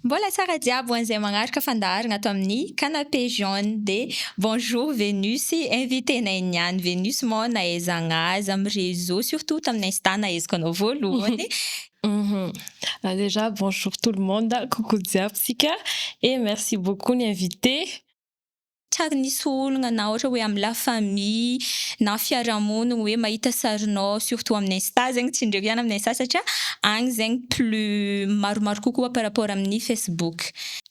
Mbola tsara jiaby ho an'izay magnaraka fandaharagna ato amin'ny Canapé Jaune dia bonjour Venus invitenay niany Venus moa nahaizagna azy amin'ny réseau surtout tamin'ny insta nahaizako anao voalohany Humm alera bonjour tout le monde coucou jiaby tsika et merci beaucoup ny invité. Tsary nisy ologna na ohatra hoe am la famille na fiarahamonigny hoe mahita sarinao surtout aminy insta zegny tsy ndreky zany aminy insta satria agny zegny plus maromaro kokoa par rapport aminy facebook.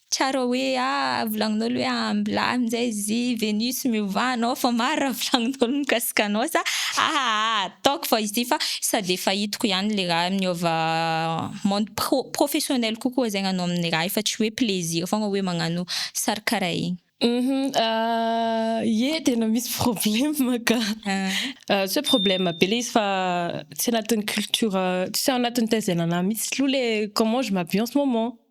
Tsara hoe ah volagnin'olo hoe ambla amin'izay zy venus miovà anao fa maro raha volagnin'olo mikasika anao sa ah ah ataoko fa izy ty fa sa de efa hitako ihany le raha miova monde pro professionnel kokoa zegny anao amin'ny raha io fa tsy hoe plaisir fogna hoe magnano sary karaha igny. Humm ah ye tena misy problème ka ah tsy hoe problème be le izy fa tsy anatin'ny culture tsy ao anatin'ny taizainanah mitsy loha le comment je m'habille en ce moment.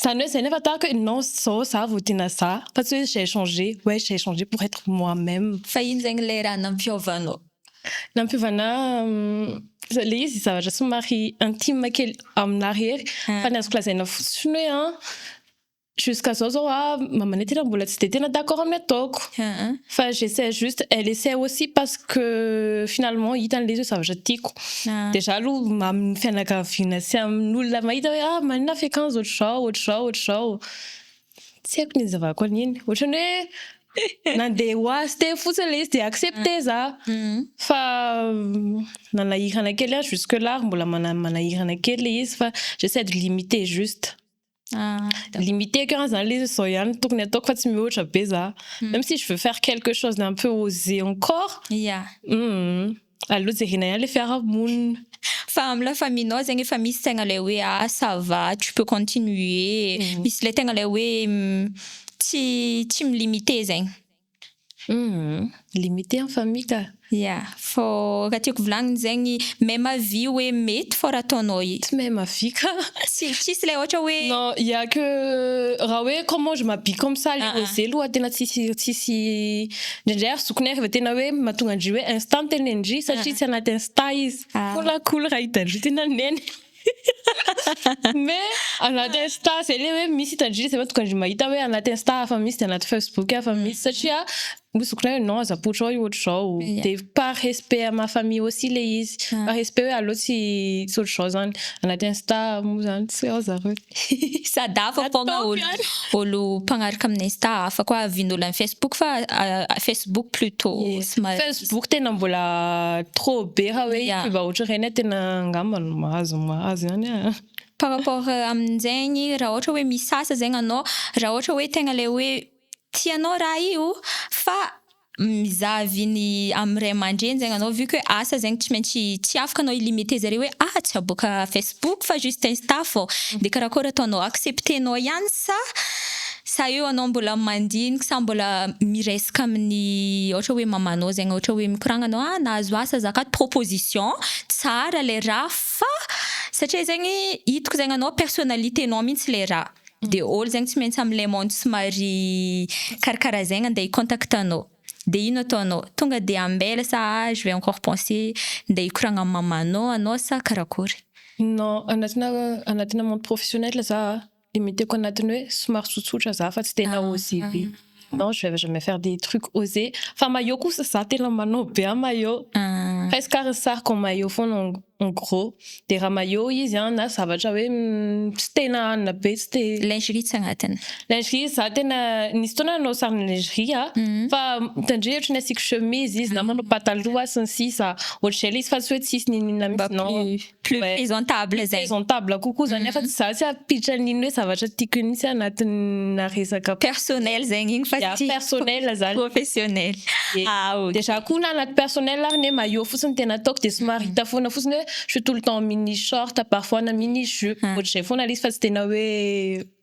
Zany hoe zay nefa tahaka hoe non zao za vao tiana za fa tsy hoe j'ai changé ouais j'ai changé pour être moi même. Fa ino zegny le raha nampiôvanô? Nampiôvana le izy zavatra somary intime kely aminah rery fa ny azoko lazaina fotsiny hoe an jusqu'à zao zao an mamanay tena mbola tsy de tena d'accord amin'ny ataoko fa j'essaie juste elle essaie aussi parce que finalement hitany le izy hoe zavatra tiako. Dia za aloha amin'ny fianakaviana sy amin'olona mahita hoe ah maninona ny fiakanjo ohatr'izao, ohatr'izao, ohatr'izao. Tsy haiko ny izavako an'iny. Ohatran'ny hoe nandeha ho azy teo fotsiny ilay izy dia accepter za. Fa nanahirana kely ahy jusque là ary mbola manahirana kely ilay izy fa j'essaie de limiter juste. Ah, limité ko zany le zao ihany tokony ataoko fa tsy mihoatra be za hmm. même si je veux faire quelque chose d'un peu osé encore yeah mm. allo jerena ihany le fiarahamonina fa amla faminao zegny efa misy tegna le hoe ah ça va tu peux continuer hmm. misy le tegna le hoe hmm, tsy tsy milimité zegny Humm limite en famille ka. Ya, fô raha tiako volagniny zegny, même avis hoe mety fô raha ataonao i. Tsy même avis ka. Tsy, tsisy le ôhatra hoe. Non, il ya que raha hoe comment je m'habille comme ça le oser aloha tena tsisy, tsisy, ndraindray ary zokiny ary vao tena hoe mahatonga an-dry hoe insta ny tenenin-dry satria tsy anaty insta izy. Cool a cool raha hitan-dry tena neny. Mbe anaty insta zay le hoe misy hitan-dry zay tonga de mahita hoe anaty insta hafa misy de anaty facebook hafa misy satria misy zokinay hoe non aza poitra ao io ohatr'izao de par respect à ma famille aussi le izy par respect hoe aleo tsy tsy ohatr'izao zany anaty insta moa zany tsy ao zareo. Sady hafa foagna olo mpagnaraka amin'ny insta hafa koa vin'olo any facebook fa facebook plutot somary. Facebook tena mbola trop be raha hoe kivà ohatra regny tena angamba no mahazo mahazo ihany an. Par rapport amin'izegny raha ohatra hoe misasa zegny anao raha ohatra hoe tegna le hoe tianao raha io fa. mizaha viny amin'ny ray aman-dreny zegny anao vu que asa zegny tsy maintsy tsy afaka anao hi-limiter zare hoe ah tsy aboaka facebook fa juste insta fô de karakôry ataonao accepter-nao ihany sa sa eo anao mbola mandinika sa mbola miresaka amin'ny ohatra hoe mamanao zegny ohatra hoe mikoragna anao ah nahazo asa za akato proposition tsara le raha fa satria zegny hitako zegny anao personnalite-nao mintsy le raha. de ol zegny tsy maintsy am le monde somary karakara zegny ande hi contact anao de ino ataonao tonga de ambela sa ah je vais encore penser nde hikoragna am mamanao anao sa karakory? Non anatina anatina monde professionnel za a, limiteko anatiny hoe somary tsotsotra za fa tsy tena osv. Non je vais jamais faire des trucs osé fa maillot kosa za tena manao be am maillot presque ary ny sariko am maillot foana en gros de raha maillot izy an na zavatra hoe tsy tena hanina be tsy de lingerie tsy agnatiny lingerie za tena nisy fotoana nanao sarina lingerie a fa mitandrema ohatry ny asiako chemise izy na manao pataloha sy ny sisa ohatry zay le izy fa tsy hoe tsisy niniana mintsy non. plus présentable zay. Présentable kokoa zany afa tsy za tsy hampiditra an'iny hoe zavatra tiako iny mihitsy anatinà resaka. Personnel zegny igny fa tsy. Ya, personnel zany. Professionnel. Ah ok. Dia za koa na anaty personnel ary ne maillot fotsiny no tena ataoko dia somary hita foana fotsiny hoe je suis tout le temps en mini short parfois na mini jupe, ohatr'izay foana le izy fa tsy tena hoe.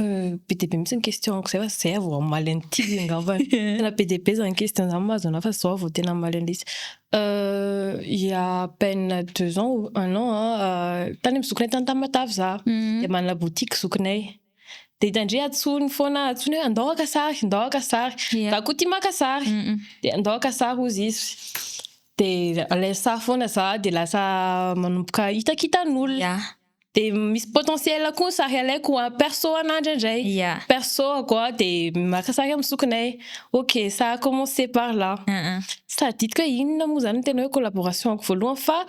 Be dia be mihitsy ny question-ko izay fa izay aho vao hamaly an'ity angambany. Tena be dia be izany question izany mahazo anà fa izao aho vao tena hamaly an'ilay izy. Il y a à peine deux ans ou un an, tany amin'ny zokinay tany Tamatave za, dia manana boutique zokinay. Dia hitandre antsoiny foana, antsoiny hoe andao haka sary, andao haka sary. Za koa tia maka sary, dia andao haka sary hozy izy. Dia alainy sary foana za, dia lasa manomboka hitakitan'olona. Dia misy potentiel koa ny sary alaiko a, perso anah indraindray, perso ako a dia maka sary amin'ny zokinay, ok ça a commencé par là, tsy tadidiko hoe inona moa izany no tena hoe collaboration ako voalohany fa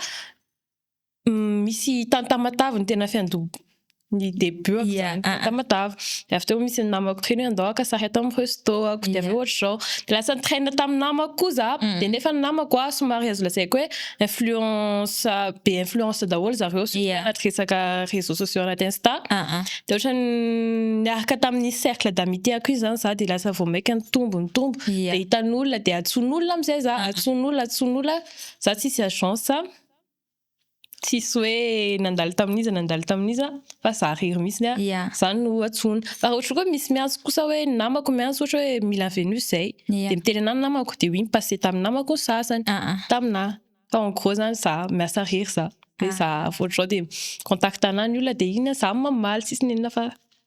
misy tany Tamatave no tena fiandoha, ny debut ako izany tany Tamatave, dia avy teo misy ny namako teny hoe andao haka sary ato amin'ny resto ako, dia avy eo ohatr'izao, dia lasa nitrain-na tamin'ny namako koa za, dia nefa ny namako a somary azo lazaiko hoe. influence be influence daholo zareo surtout yeah. anaty resaka réseaux sociaux anaty insta uh -huh. de ohatrany niaraka tamin'ny cercle d'amitié ako izany za de lasa vao maika nitombo nitombo yeah. de hitan'olona de atson'olona amizay za uh -huh. atson'olona atson'olona za tsisy agence tsisy hoe nandalo tamin'iza nandalo tamin'iza fa za rery mihitsy ny ahy yeah. zany no atsoina fa raha ohatra koa misy miantso kosa hoe ny namako miantso ohatra hoe mila venus zay yeah. de miteny anah ny namako de oui mi-passe tamin'ny namako ny sasany uh -uh. taminah fa en gros zany za miasa rery za de ah. za voatrao de contact anah ny olona de iny za mamaly sisy nenina fa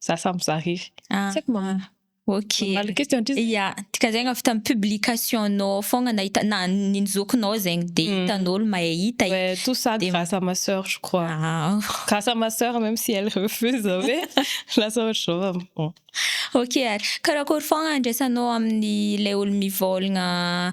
za samy za rery ah. tsy haiko mamaly Ok. Mamaly question ndry zay. Ya, dikazegny avy tam publication nao ao fogna nahita na ny zokinao zegny de hitan'olo mahay hita io. Ouais, tout ça grâce à ma sœur je crois. Ah. Grâce à ma sœur même si elle refuse zao hoe lasa ohatr'izao am bon. Ok ary, karakory fogna andraisanao amin'ny ilay olo mivôlagna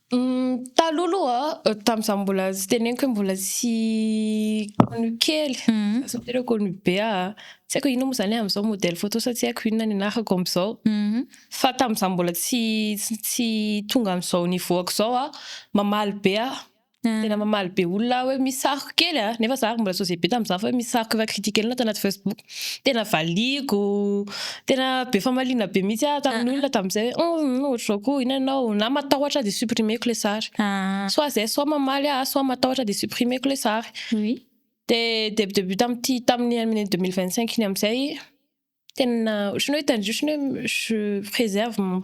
Taloha aloha, tamin'izaho mbola tsy teneniko hoe mbola tsy connu kely, za tsy miteraka connu be aho, tsy haiko inona moa izany amin'izao modèle photo sa tsy haiko inona ny anarako amin'izao, fa tamin'izaho mbola tsy tsy tonga amin'izao niveau-ko izao aho, mamaly be aho, tena mamaly be olona aho hoe misy sary kely a, nefa za ary mbola tsy osé be tamin'izany fa hoe misy sary efa critique-nao tao anaty Facebook, Tena valiako, tena be famaliana be mihitsy aho tamin'ny olona tamin'izay hoe humm ohatr'izao koa inona ianao, na matahotra aho dia supprimeko ilay sary, soit izay soit mamaly aho soit matahotra aho dia supprimeko ilay sary, dia debut debut tamin'ity tamin'ny année deux mille vingt cinq iny amin'izay tena ohatrany hoe tandrify ohatrany hoe je préserve mon.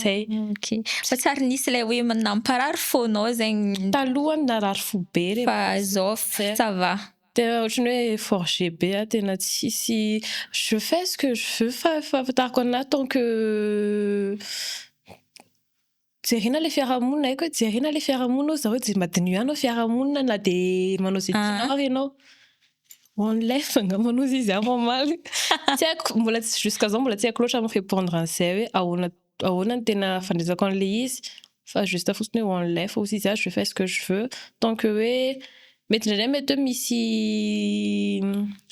Zay. Fa tsy ary nisy ilay hoe namparary fonao zegny. Taloha narary fo be reko. Fa zao ça va. Tena otrany hoe forger be ah, tena tsisy je fais ce que je veux fa fahafantarako anah tant que jerena le fiarahamonina haiko hoe jerena le fiarahamonina oh, za hoe je madiniho ihany ao fiarahamonina na de manao ze tianao ary enao. One life angamba no izy aho mamaly. Tsy haiko, mbola tsy jusqu'à zao mbola tsy haiko loatra mi-repondre an'izay hoe ahoana ahoana ny tena fandraisako an'ilay izy fa juste fotsiny hoe one life hozy izy aho je fais ce que je veux tant que hoe mety indraindray mety hoe misy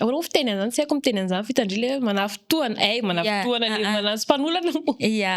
ahoana moa fiteny an'izany tsy haiko ny miteny an'izany f'hitandry ilay hoe manafitohana, hay manafitohana le manantso mpanolana moa. Ia.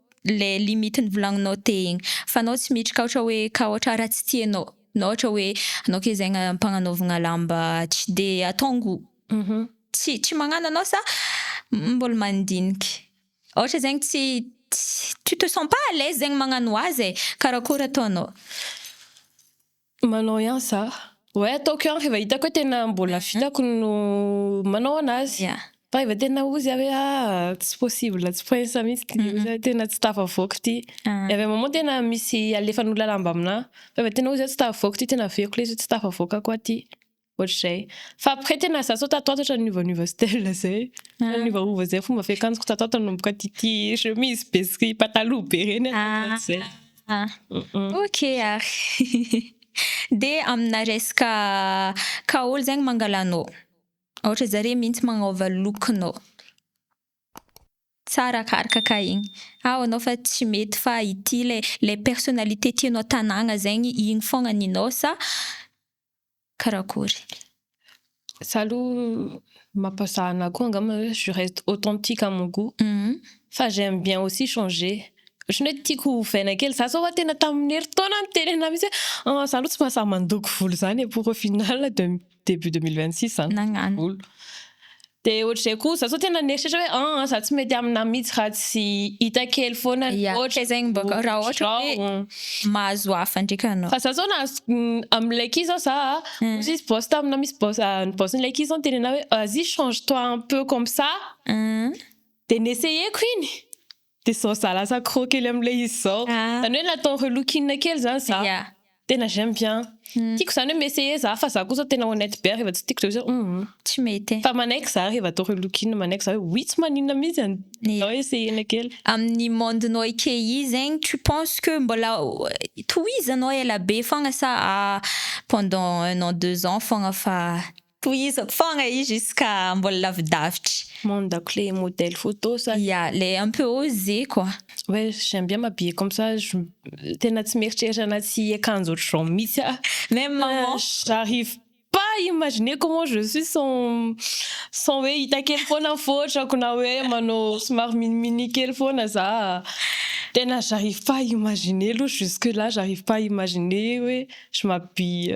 le limite ny volagninao te igny fa anao tsy miditra ka ohatra hoe ka ohatra raha tsy tianao na ohatra hoe anao ke zegny ampagnanaovagna lamba tsy de ataongo tsy tsy magnano anao sa mbola mandiniky ohatra zegny tsy tsy tu te sens pas à l'aise zegny magnano azy e karakôry ataonao. Manao ihany za. Oe ataoko ihany rehefa hitako hoe tena mbola vitako no manao anazy. Fa rehefa tena ozy aho hoe ah tsy possible tsy prince mihitsy ty ozy aho tena tsy tafavoaka ty. Ny avy amam moa tena misy alefan'olona lamba aminah fa rehefa tena ozy aho tsy tafavoaka ty tena aveko le izy hoe tsy tafavoaka koa ty. Ohatr'izay. Fa après tena za sao tatoato ohatrany niovaniova style zay. Tena niovaova zay fomba fiakanjoko tatoato nanomboka ity chemise be sy pataloha be reny hatramizao zay. Ok ary. Dia amina resaka ka ol zegny mangalanao, ohatra zare mintsy magnova look-nao tsara akaraka ka igny, ao anao fa tsy mety fa ity le le personnalité tianao tanagna zegny igny fogna ninao sa karakory. Za aloha mampazaha anah koa angamba hoe je reste authentique à mon gout fa j'aime bien aussi changer ohatrany hoe tiako ho ovaina kely za zao hoa tena tamin'ny herintaona niteny anah mihitsy hoe ah za aloha tsy mahasahy mandoko volo zany e pour au final debut deux mille vingt six zany nagnano volo. Dia ohatr'izay koa za zao tena nieritreritra hoe an za tsy mety aminà mihitsy raha tsy hita kely foana ny Yeah, ohatra fehezany mba ka- raha ohatra hoe izao. mahazo hafa ndraika anao. Fa za zao nahazo amin'ilay key zao za a, ohatra izy boss taminà misy boss ny boss-n'ilay key zao niteny anà hoe vas-y change toi un peu comme ça, dia ni-essayer-ko iny, Dia izao za lasa accro kely amin'ilay izy izao. Izany hoe natao relook-in kely izany za. Tena j'aime bien. Tiako izany hoe mi-essayer za fa za kosa tena honnête be ary rehefa tsy tiako izay hoe hum. Tsy mety e. Fa manaiky za rehefa atao relook-in, manaiky za hoe oui tsy maninona mihitsy an. Izao essayer-na kely. Amin'ny monde-nao ekeyy zegny tu penses que mbola tohizanao elabe foagna sa pendant un an deux ans foagna fa. Tohizako fogna izy jusqu'à mbola lavidavitry. Mandako le modèle photo sa. Ya, le un peu osé quoi. Ouais, j'aime bien m'habiller comme ça, tena tsy mieritreritra anaty akanjo ohatr'izao mihitsy aho. Même maman. J'arrive pas à imaginer comment je suis sans sans hoe hita kely foana ny fotrako na hoe manao somary mini mini kely foana za. Tena j'arrive pas à imaginer aloha, jusque là j'arrive pas à imaginer hoe je m'habille.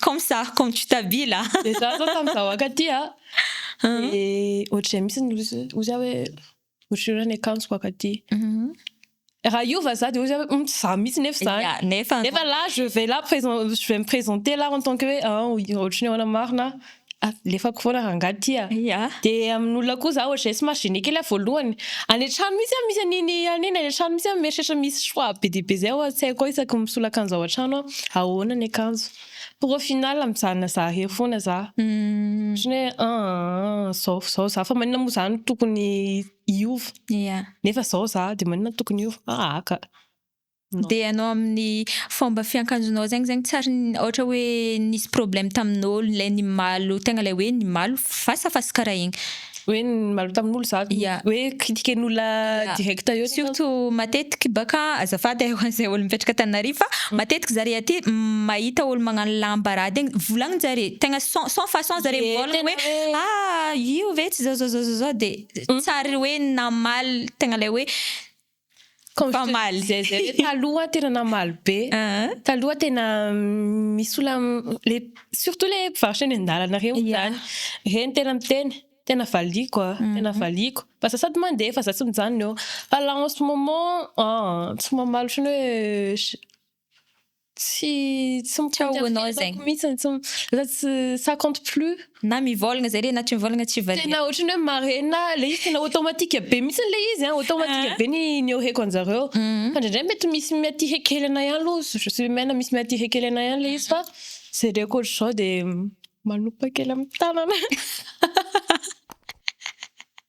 Comme ça, comme tu t'habilles a! Dia za zao tamin'izahoaka aty a, dia ohatr'izay mihitsy ny loza, hoy za hoe ohatr'ireo raha ny akanjoko aky aty, raha hiova za dia hoy za hoe humm tsy za mihitsy nefa izany, ya, nefa, nefa là je vais là présent, je vais me présenter là en tant que hoe an, ohatr'ny ahoana marina aho. Alefako foana rangahy ity a! Dia amin'olona koa za ohatr'izay tsy maha-gêné kely aho voalohany. Any an-trano mihitsy aho misy an'iny an'iny any an-trano mihitsy aho mieritreritra misy choix be dia be izay ao an-tsaiko ao isaky ny misolo akanjo ao an-trano aho. Ahoana ny akanjo? Pour au final mijanona zahare foana za. Ohatran'ny hoe an izao izao za fa maninona moa za no tokony hiova? Nefa izao za dia maninona no tokony hiova? Ahaka. Dia ianao amin'ny fomba fiankanjonao zegny zegny tsy ary ohatra hoe nisy problème tamin'ôlo le nimaly tegna le hoe nimaly fasafasa karaha igny. Hoe nimaly tamin'olo za hoe critiquen'olona direct eo tsy. Surtout matetiky baka azafady ay hoan zay olo mipetraka Antananarivo fa matetiky zare aty mahita olo magnano lamba raha de volagninjare tegna sans sans façon zare mivôlagna hoe ah io ve tsy zao zao zao zao de tsy ary hoe namaly tegna le hoe Mpamaly. Zay zay le taloha tena namaly be. Taloha tena misy ola le surtout le mpivarotra eny an-dalana reny zany. Reny tena miteny tena valiako a, tena valiako fa za sady mandeha fa za tsy mijanona eo. Fa là en ce moment ah tsy mamaly otrany hoe. Tsy tsy mikaonao zegny. Mitsiny tsy lasa tsy ça compte plus. Na mivôlagna zare na tsy mivôlagna tsy valiha. Tena otrany hoe marina le izy tena automatique be mitsiny le izy an automatique be ny nioreko anjareo fa ndraindray mety misy miatihe kely anay any lo je suis humaine misy miatihe kely anay any le izy fa jereko otrzao de manopa kely am tanana.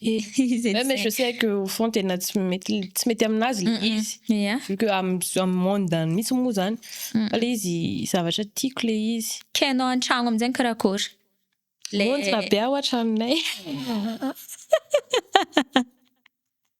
Elisy mais je sais que au fond tena tsy mety tsy mety aminazy le izy vu que am am monde any mitsy moa zany fa le izy zavatra tiako le izy ka enao antragno amizay mikarakôry le monjy rabe aho atranonay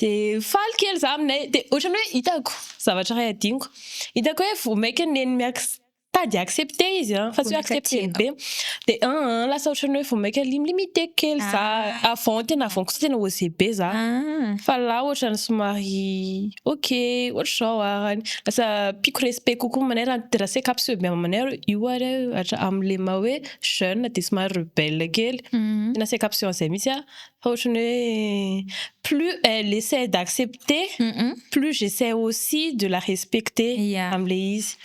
Dia faly kely za aminay, dia ohatrany hoe hitako zavatra iray hadinoko, hitako hoe vao mainka neny mi-ac- tady accepter izy an, fa tsy hoe accepter ny be, dia an an an, lasa ohatrany hoe vao mainka li- mi-limiter kely za, avant tena avant kosa tena oser be za, fa là ohatrany somary ok ohatr'izao ara ny, lasa ampiako respect kokoa aminay raha ny raha seka mpiseho be aminay hoe io ary amin'ilay maha hoe jeune dia somary rebelle kely, tena seka mpiseho an'izay mihitsy an. Ohatrany hoe plus elle essaie d'accepter plus j'essaie aussi de la respecter amin'ilay izy.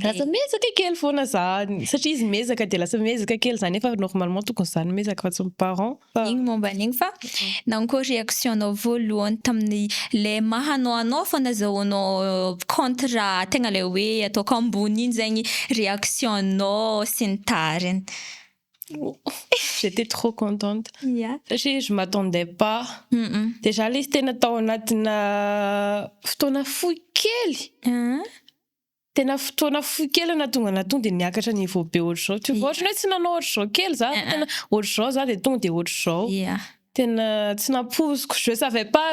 Lasa miezaka kely foana za satria izy miezaka dia lasa miezaka kely za nefa normalement tokony za no miezaka fa tsy ny parent. Iny momba an'iny fa nahoana koa réaction-nao voalohany tamin'ny le maha anao anao fa nazahoanao contre tegna le hoe ataoko ambony iny zegny réaction-nao sy ny tariny. J'étais trop contente. Yeah. Satria je m'attendais pas. Mm -mm. Dia za ilay izy tena tao anatina fotoana fohy kely. Uh. Tena fotoana fohy kely na tonga na tonga dia niakatra niveau be ohatr'izao. Tu vois, ohatrany hoe tsy nanao ohatr'izao kely za. Uh-uh. Tena ohatr'izao za dia tonga dia ohatr'izao. Yeah. Tena tsy nampoiziko. Je savais pas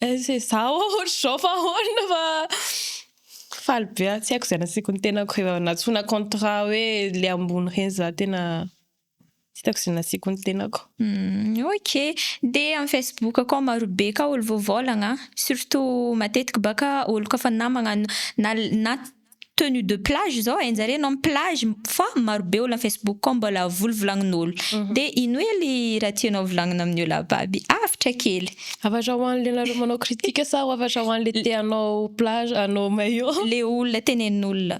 Aiza e za oa ohatr'izao fa ahoana fa faly be aho tsy haiko izay nasiako ny tenako rehefa nantsoina contrat hoe le ambony reny za tena tsy hitako izay nasiako ny tenako. Ok de am Facebook akao marobe ka olo voavaolagna surtout matetiky baka olo ka fa namagna na na. tenue de plage izao e, njareo ianao am plage fa marobe olo am facebook ao mbola volovolagnin'olo de ino ely raha tianao volagnina amin'ny olo ababy? Avotra kely. Hafatra ho an'le nareo manao critique sa ho hafatra ho an'le te hanao plage hanao maillot? Le olona tenenin'olona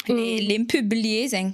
le le mi publier zegny.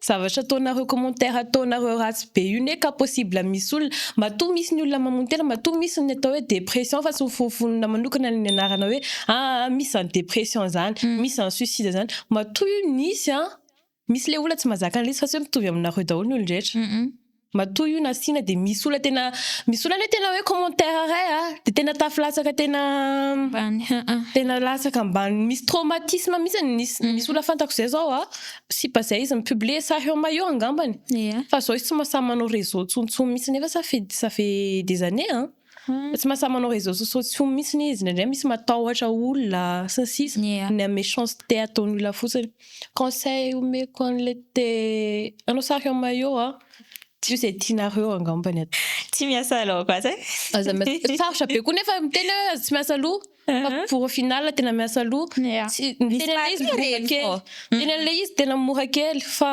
Zavatra ataonareo commentaire ataonareo ratsy be io ne ka possible misy olona, matoa misy ny olona mamono tena matoa misy ny atao hoe dépression fa tsy mifonofonona manokana ny nianarana hoe aa misy zany dépression zany, misy zany suicide zany, matoa io nisy an! Misy le olona tsy mazaka anle izy fa tsy hoe mitovy aminareo daholo ny olon-drehetra. Matoa io nasiana dia misy olona tena misy olona anie tena hoe commentaire ray a dia tena tafy latsaka tena Ambany haa. Tena latsaka ambany misy traumatisme mihitsy ny nisy misy olona fantako izay zao a sipa izay izy mi-publier sahy eo maillot angambany Ia. fa zao izy tsy mahasahy manao réseau tsontsony mihitsy nefa ça fait ça fait des années an. Hum tsy mahasahy manao réseaux sociaux tsony mitsiny izy, indraindray misy matahotra olona sy ny sisa, Ny a. ny méchanceté ataon'ny olona fotsiny. Conseil omeko anle te hanao sary en maillot a, diso izay tianareo angambany atao. Tsy miasa loha koa zay. Aza miasa, sarotra be koa nefa miteny hoe aza tsy miasa loha fa pour au final tena miasa loha, Ia. tsy, miteny anle izy mora kely, miteny anle izy tena mora kely fa.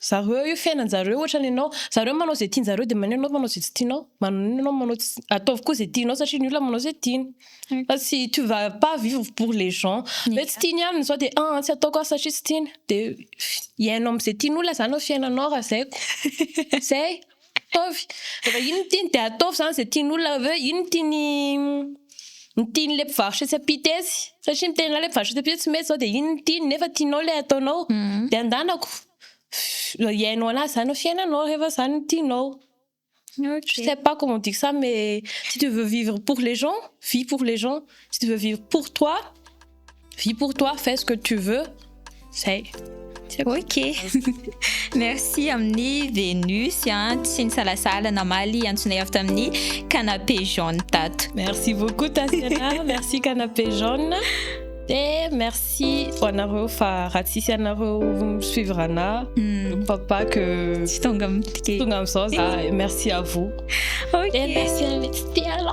Zareo io fiainanjareo ohatrany ianao, zareo manao izay tianjareo dia maninona ianao manao izay tsy tianao? Maninona ianao manao tsy, ataovy koa izay tianao satria ny olona manao izay tiany fa tsy tu va pas vivre pour les gens hoe tsy tiany ihany ny zao dia aa tsy ataoko aho satria tsy tiany dia iainao amzay tian'olona zany ny fiainanao raha zay ko zay. Ataovy, rehefa iny no tiany dia ataovy izany izay tian'olona, avy eo iny no tian'ny ny tian'ilay mpivarotra etsy ampita etsy, satria miteny anao ilay mpivarotra etsy ampita hoe tsy mety izao, dia iny no tiany nefa tianao ilay ataonao, dia andanako, hiainao an'azy izany ny fiainanao rehefa izany no tianao, je ne sais pas comment dire ça mais si tu veux vivre pour les gens, vis pour les gens, si tu veux vivre pour toi. Vis pour toi, fais ce que tu veux. Zay. Ok. Merci amin'ny Venus an, tsy nisalasala namaly antsonay avy tamin'ny canapé jaune tato. Merci beaucoup Tatiana, merci canapé jaune. Dia merci ho anareo fa raha tsisy anareo suivre ana, je ne crois pas que tsy tonga amin'ity. Tonga amin'izao za. Merci à vous. Ok. Dia merci an'ilay tsy tia ana.